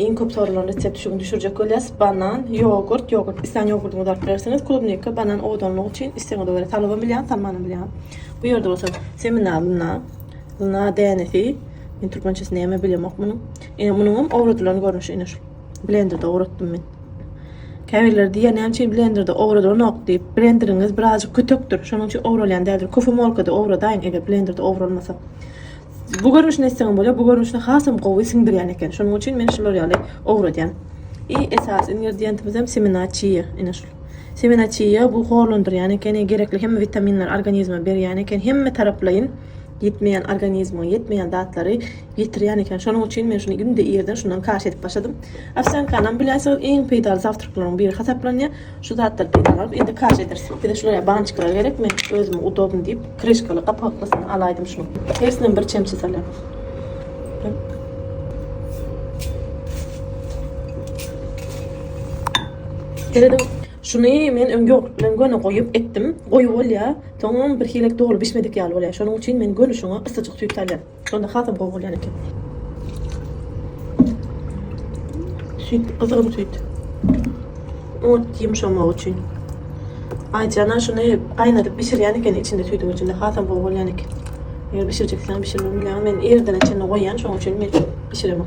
Iň köp soralan resept şu gün düşürjek bolýas, banan, ýogurt, ýogurt islän ýogurdyňyzy alyp bilersiňiz, klubnika, banan owadanlyk üçin islegiňize görä salybam bilýän, salmanam bilýän. Bu ýerde bolsa semena lyna, lyna dänesi, men türkmençesini näme bilemok munuň. Ine munuňam owradylan görnüşi ine şu. Blenderde owratdym men. Käbirleri diýýär näme üçin blenderde owradylanok diýip, blenderiňiz birazjyk kütekdir, şonuň üçin owralýan däldir. Kofemolkada owradaýyň eger blenderde owralmasa. Bu görnüşini etseňem bolýar, bu görnüşini hasam gowy siňdirýän eken. Şonuň üçin men şular ýaly owradýan. I esasy ingredientimizem semena çiýa, ine şul. Semena çiýa bu horlandyrýan ekeni, gerekli hemme witaminleri organizme berýän eken, hemme taraplaýyn ýetmeýän organizmiňe ýetmeýän zatlary ýetirýän eken. Şonuň üçin men şuny günde irden şundan kaşa edip başladym. Owsýankanam bilersiňiz iň peýdaly zawtryklaryň biri hasaplanýar. Şu zatlar peýda galyp indi kaş ederis. Bize şulaýa bançyklar gerek men özüme udobny diýip krişkaly gapaklysyny alaýdym şunuň. Hersinem bir çemçe salýan. Seredip şuny men öň ýogurt bilen göni goýup etdim. Goýy bolýa. Soňam bir hile doly bişmedik ýaly bolýa. Şonuň üçin men göni şuňa ysyjyk süýt salýan. Onda hasam gowy bolýan eken. Süýt, gyzgyn süýt. Ot ýumşamak üçin. Aýjana şuny gaýnadyp bişirýän eken içinde süýdüň içinde hasam gowy bolýan eken. Eger bişirjeksen bişirmeli. Men ýerden içinde goýýan, şoň üçin men bişiremok.